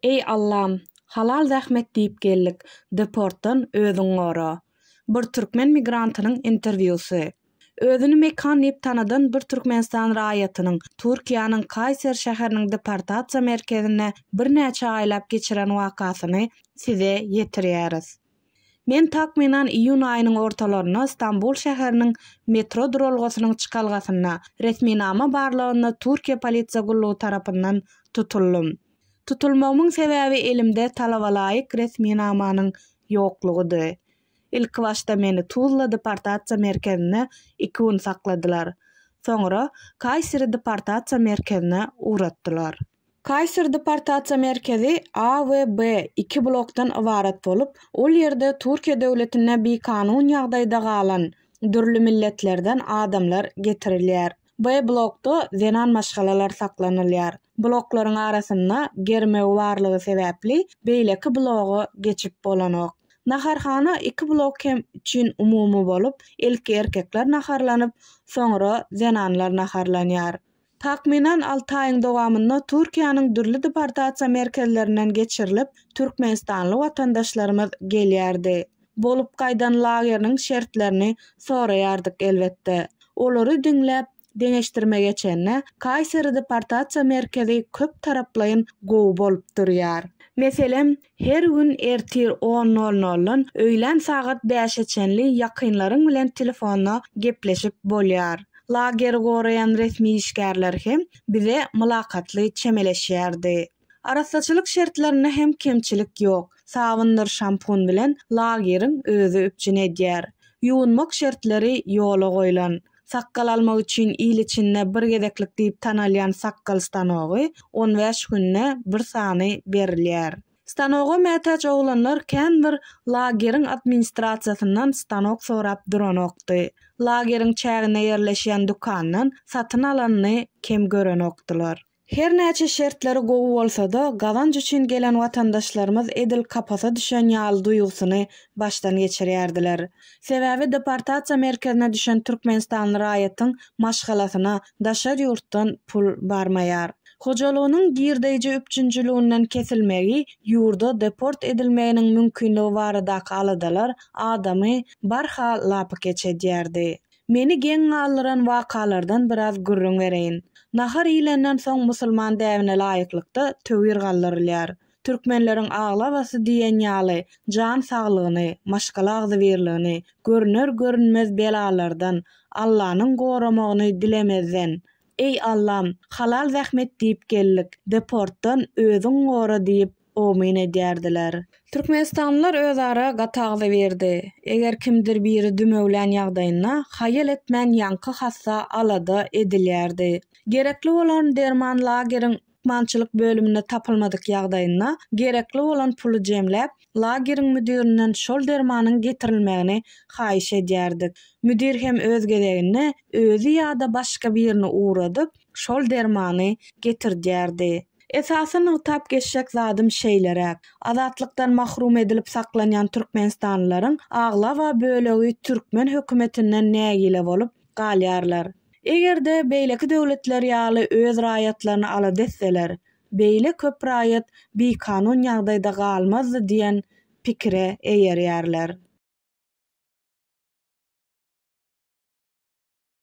Eý Allam, halal zähmet diýip geldik, deportdan özüň gora. Bir türkmen migrantynyň interwýusy. Özüni Mekan diýip tanadan bir Türkmenistan raýatynyň Türkiýäniň Kaýser şäheriniň deportasiýa merkezinde birnäçe aýlap geçiren wakasyny Size ýetirýäris. Men takmynan iýun aýynyň ortalarynda Stambul şäheriniň metro duralgasynyň çykalgasynda resminama barlagynda Türkiýe polisiýa gullugy tarapyndan tutuldym. Tutulmagymyň sebäbi elimde talabalaýyk resminamanyň ýoklugydy. Ilkibaşda meni Tuzla deportasiýa merkezinde iki gün sakladylar. Soňra Kaýseri deportasiýa merkezine ugratdylar. Kaýser deportasiýa merkezi A we B iki blokdan ybarat bolup, ol ýerde Türkiýe döwletinde bikanun ýagdaýda galan dürli milletlerden adamlar getirilýär. B blokda zenan maşgalalar saklanylýar. Bloklaryň arasynda germew barlygy sebäpli beýleki bloga geçip bolanok. Naharhana iki blok hem üçin umumy bolup, ilki erkekler naharlanyp, soňra zenanlar naharlanýar. Takmynan alty aýyň dowamynda Türkiýäniň dürli deportasiýa merkezlerinden geçirilip, türkmenistanly watandaşlarymyz gelýärdi. Bolup gaýdan lageriniň şertlerini soraýardyk elbetde. Olary diňläp, deňeşdirme geçende, Kaýseri deportasiýa merkezi köp taraplaýyn gowy bolup durýar. Meselem, Her gün ertir on nol noldan öýlän sagat bäşe çenli ýakynlaryň bilen telefonda gepleşip bolýar. Lageri goraýan resmi işgärler hem bize mylakatly çemeleşýärdi. Arassaçylyk şertlerinde hem kemçilik ýok, sabyndyr şampun bilen lageriň özi üpjün edýär. Ýuwunmak şertleri ýola goýlan. Sakgal almak üçin il içinde bir gezeklik diýip tanalýan sakgal stanogy on bäş günde bir sany berilýär. Stanoga mätäç oglanlar kän bir lageriň administrasiýasyndan stanok sorap duranokdy. Lageriň çäginde ýerleşýän dükandan satyn alanyny kem görenokdylar. Her näçe şertleri gowy bolsa-da, gazanç üçin gelen watandaşlarymyz edil kapasa düşen ýaly duýgusyny başdan geçirýärdiler. Sebäbi deportasiýa merkezine düşen türkmenistanly raýatyň maşgalasyna daşary ýurtdan pul barmaýar. Hojalygynyň girdeýji üpjünçiliginden kesilmegi, ýurda deport edilmeginiň mümkinligi baradaky aladalar adamy barha lapykeç edýärdi. Meni geň galdyran wakalardan biraz gürrüň bereýin. Nahar iýlenden soň musulman däbine laýyklykda töwir galdyrylýar. Türkmenleriň aglabasy diýen ýaly jan saglygyny, maşgala agzybirligini, görner-görünmez belalardan Allanyň goramagyny dilemezden, Eý Allam, halal zähmet diýip geldik, deportdan özüň gora diýip, omyn edýärdiler. Türkmenistanlylar özara gat agzybirdi. Eger kimdir biri dümewlän ýagdaýynda, haýal etmän ýaňky hassa alada edilýärdi. Gerekli bolan derman lageriň lukmançylyk bölüminde tapylmadyk ýagdaýynda, gerekli bolan puly jemläp, lageriň müdirinden şol dermanyň getirilmegini haýyş edýärdik. Müdir hem öz gezeginde özi ýa-da başga birini ugradyp, şol dermany getirdýärdi. Esasy nygtap geçjek zadym şeýleräk, azatlykdan mahrum edilip saklanýan türkmenistanlylaryň aglaba bölegi türkmen hökümetinden nägile bolup galýarlar. Eger-de beýleki döwletler ýaly öz raýatlaryny alada etseler, beýle köp raýat bikanun ýagdaýda galmazdy diýen pikire eýerýärler.